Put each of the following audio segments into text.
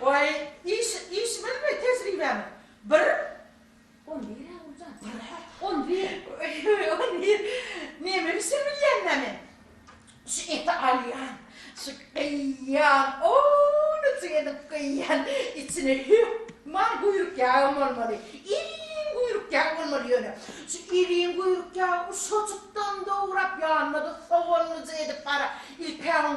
Waý, iş, işimiňmi, tejribämi? Bir. On bir-ä, Guljan. Bir-ä? On bir. On bir. Neme bişirip bilýän-dä men? Şu eti alýan, şu gyýýan, owunyjyk edip gyýýan, içine hökman guýruk ýagam bolmaly, iriň guýruk ýag bolmaly ýöne. Şu iriň guýruk ýagy uşajykdan dograp, ýanyna-da soganlyja edip, gara, ilk-ä oň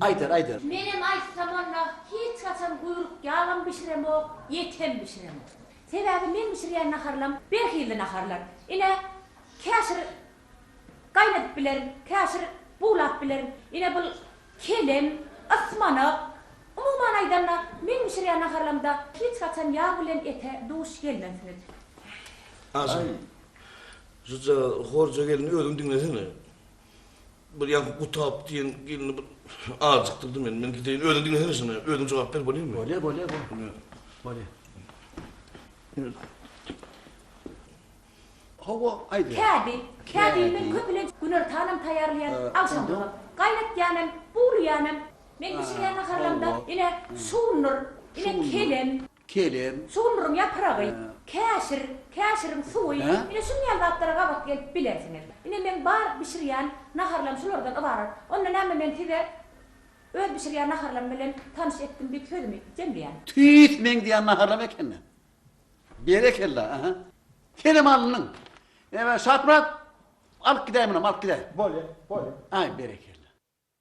Aýder aýder. Menem aýtsam onda hiç haçan guýruk ýagam bişiremok, ýet hem bişiremok. Sebäbi meň bişirýän naharlam bir hilli naharlar. Ine, käşir gaýnadyp bilerin, käşir buglap bilerin. Ine bul kelem, ysmanak. Umuman aýdanda meň bişirýän naharlamda hiç haçan ýag bilen ete duş gelmezsiňiz. Aý, şujagaz horja gelin özüň diňlesene. Bir ýaňky Gutap diýen gelni bir aljykdyrdy meni. Men gideýin. Özüň diňlesene şuny. Özüň jogap ber bolýarmy? Bolýar, bolýar, bolýar. Bolýar. Hawa, aýt. Kädi, kädi men köplenç güner taýam taýýarlaýan agşamlyga. Gaýnatýan hem, buwlaýan hem. Men bişirýän naharlarymda ine, şundur, ine, kelem. kelem. Sugundyryň ýapragy, käşir, käşiriň suwy, ine şunuň ýaly zatlara gabat gelip bilersiňiz. Ine meň bar bişirýän naharlam şulardan ybarat. Onda näme men size öz bişirýän naharlam bilen tanyş etdim diýip sözümi jemleýän. Tüýs meň diýen naharlam ekeni. Berekella, aha. Kelem alnyň. Ebä Şaprak alyp gidäýminem, alyp gidäý. Bolýa, bolýa. Aý, berekella.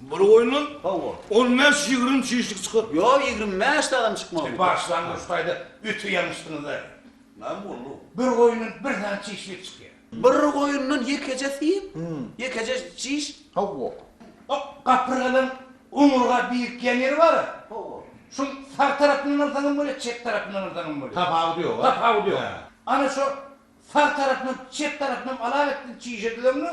Bir goýundan Hawa. on bäş-ýigrimi çişlik çykar. Ýok, ýigrimi bäş dagyny çykmaly. Siz başlangyç taýda öte ýalňyşdyňyz-aý. Näme boldy? Bir goýundan bir sany çişlik çykýar. Bir goýundan ýekeje syýyp, ýekeje çiş? Hawa. O gapyrgadan oňurga birikýän ýeri bar-a? Hawa. Şoň sag tarapyndan alsaň hem bolýar, çep tarapyndan alsaň hem bolýar. Tapawudy ýok-a? Tapawudy ýok. Ana şo sag tarapynam, çep tarapynam alawetdin çişe düzeňde,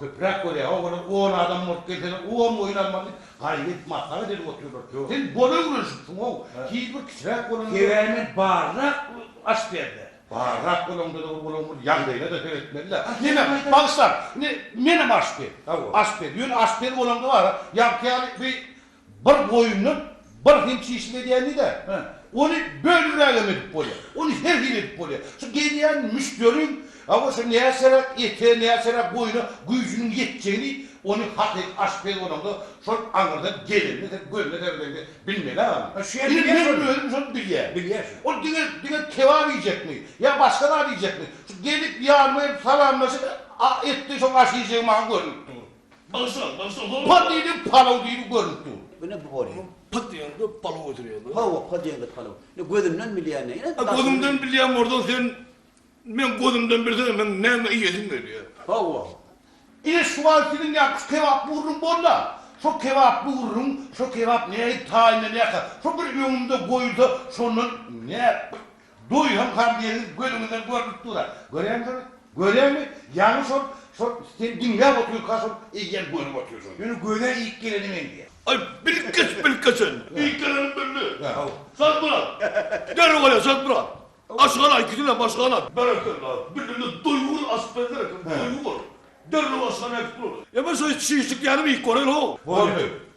Köpüräk görýä o gyzy on adam bolup gelsene on goýun almaly diýip gaýgy edip maslahat edip otyrlar tüo. Sen bol öwrenişipsiňow hiç bir kiçiräk bolanda. Sebäbi men barrak aç perde. Barrak bolaňdada bir olaň bir ýagdaýynada seretmelidä. Diýmek bagşylar indi menem aç pez. Aç pez ýöne aç pez olaňda bara ýagty ýaly bir Bir goýundan bir hil çişlik edýän diýdi-ä. Ony bölürägem edip bolýar. Ony her hili edip bolýar. Şu gelýän müşderiň hawa şu näçeräk ete, näçeräk goýuna güýjüniň ýetjegini ony hakyky aşpez bolaňda şol aňyrdan gelende sen gözüne seredeňde bilmeli-ä gana. Ine meniň özüm şony bilýän. Bilýän şony. Ol diňe diňe kebap iýjekmi ýa başga zat iýjekmi? Şu gelip ýanyma gelip salamlaşyp, a etde şoň aşy iýjegimi maňa görnüp dur. Bagşa, bagşa, ho! Pa diýdi, palaw diýdi görnüp dur. Bu ne bu bolýa? Pa diýende palaw göterýär bu. Hawa, pa diýende palaw. Ine gözünden bilýän näme? Ine daşyny. Gözüňden bilýän bolsa sen meň gözümden bilseň meň näme iýesim gelýär. Hawa. Ine şu wagt siziň ýaňky kebap gurruň bolda. Şo kebap gurruň, şo kebap nähili taýynlanýarka, şo bir öňümde goýulsa şondan näp Doýan gardegiňiz gözüňizden görnüp dur-a. Göräýmisiň ony? Göräými? Ýaňy şol, şol sen diňläp otyrka şol eýýäm görüp otyrsyň. Ýöne göze iýip geleni men diýýä. Aý, bilkes, bilkes sen. Iýip gelenim bildi. Şadmyrat! Derrew gel-le, Şadmyrat! Aşyk ala ikisinem, aşyk ala! Berekella! Bildim-de, doýuň aşyk berler eken, doýuň ol. Derrew aşyk ala äkidip durardy. Emma şeýdip şişlik ýaly iýip göreli-how! Boldy.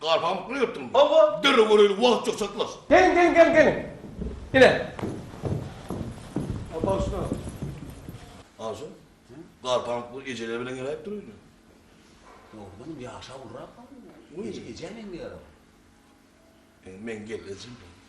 Garhamyk bilen ýyrtdyňmy? Hawa. Derrew göreýli, wagt ýok, çatlaş. Geliň, geliň, geliň, geliň. Ine. A, bagyşla. Aja, Garhamyk bu ejeler bilen geläýip dur öýüne. Dogrudanam ýaşa ulurak-a bu. Eje, ejä meňzeýär-ä bu. Indi men geldi ejem.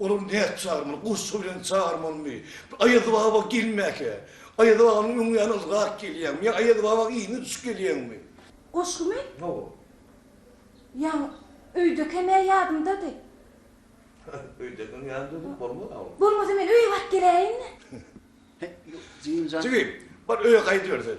Olary nädip çagyrmaly? Goşgy bilen çagyrmalymy? Aýazbaba gelmäkä? Aýazbabanyň öňi ýaly ylgap gelýäňmi? Ýa Aýazbaba yzyna düşüp gelýäňmi? Goşgymy? Hawa. Ýaň, öýdekem-ä ýadymdady. Öýdekem ýadymdady, bolmaz-a ol. Bolmasa men öýe baryp geläýin-le. Jigim, bar öýe gaýdyber sen.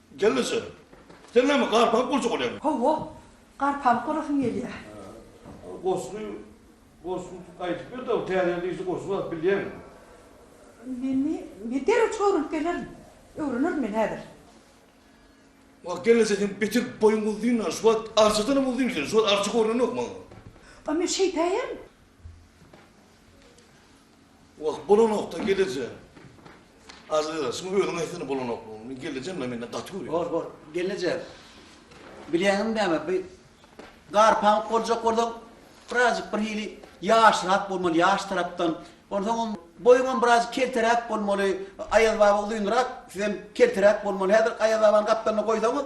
Gelneje, sen näme garpygyp gurjak bolýaňmy? Hawa, garpygyp gurasym gelýär. Ol goşgy, goşgy aýdyp ber-de, täze ýyl yzy goşgy aýdyp bilýäňmi? Meni, men derrew çykyp öwrenip gelerin. Öwrenerin men häzir. Wah, gelneje, seň beter boýuň uzyn-a, şu wagt arçadanam uzyn sen, şu wagt arça görnenok maňa. A men şeýtäýem. Wah, bolanok-da, gelejä. Aziza, şuňa özüň aýtsana bolanoklygyny. Gelejem-le menden gaty görýär. Bor, bor, gelejek. Bilýäňmi näme, bi garpaňyp boljak bolsaň, birazjyk birhili ýaşyrak bolmaly, ýaş tarapdan. Onsoňam boýuňam birazjyk kelteräk bolmaly. Aýaz baba uzynrak, sizem kelteräk bolmaly. Häzir Aýaz babany gapdalynda goýsaňyz,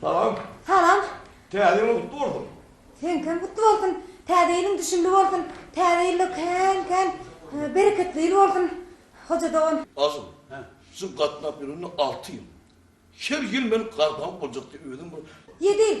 Salam. Salam. Täze ýylyň gutly bolsun. Seňkem gutly bolsun. Täze ýylyň düşümli bolsun. Täze ýylda kän kän bereketli ýyl bolsun Hoja dogan. Asyl, siz gatnap ýörende alty ýyl. Her ýyl men garbank boljak diýip özüm bir. Ýedi ýyl.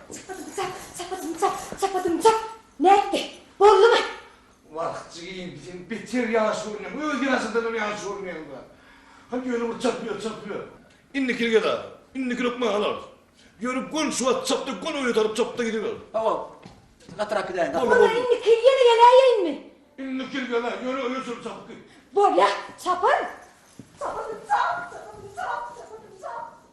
Çapadym-çap, çapadym-çap, çapadym-çap! Nätdi? Boldumy? Wah, jigim, sen beter ýaş görünýäň, öz ýaşyňdanam ýaş görünýäň-dä. Hany, ýöne bir çap ýör, çap ýör. Indikini gezar, indikini ökmän alarys. Ýöne göni şu wagt çapdy, göni öýe tarap çapdy gidiber. Hawa, gatyrak gidäýin. Boldy, boldy. Onda indikini ýene geläýeýinmi? Indikini gelä, ýöne öýe çenli çapyp git. Bolýa, çaparyn. Çapadym-çap, çapadym-çap, çapadym-çap!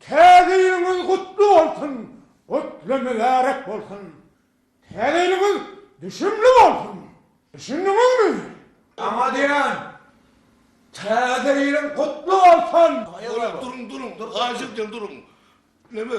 Täze ýylyňyz gutly bolsun, gutly mübärek bolsun! Täze ýylyňyz düşümli bolsun! Düşündiňizmi? Aňa diýen, Täze ýylyň gutly bolsun! Aýaga duruň, duruň, dur, ajy diýen duruň. Neme?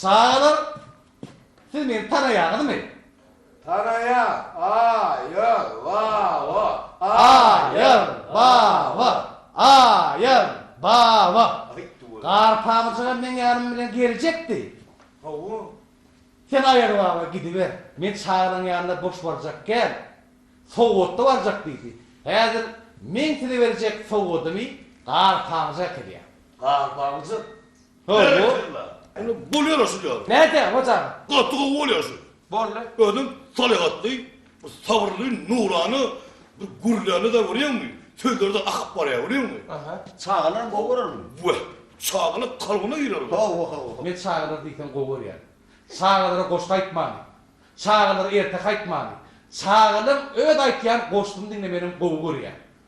Çagalar, siz meni tanaýaňyzmy? Tanaýas, aýyr, baba, aýyr, baba, aýyr, baba. Garpamyjygam meň ýanym bilen geljekdi. Hawa. Sen aýyr baba gidiber, men çagalaň ýanyna boş barjak kän, sowgatly barjak diýdi. Häzir meň size berjek sowgadymy Garpamyja äkelýär. Garpamyjyk, Hawa, indi bolýar-a şu ýaly. Nädýäň, hojanym? Gaty gowy bolýar şu. Boldy. Özüň salyhatly, bir sabyrly, nurana, bir gürlände-de görýäňmi, sözleri-de akyp barýar, görýäňmi? Aha. Çagalaram gowy görer muny. Weh, çagalar kalbyna girer olar. Hawa, hawa. Men çagalary diýseň gowy görýän. Çagalara goşgy aýtmany, çagalara erteki aýtmany, çagalaryň öz aýtýan goşgyny diňlemäninem gowy görýän.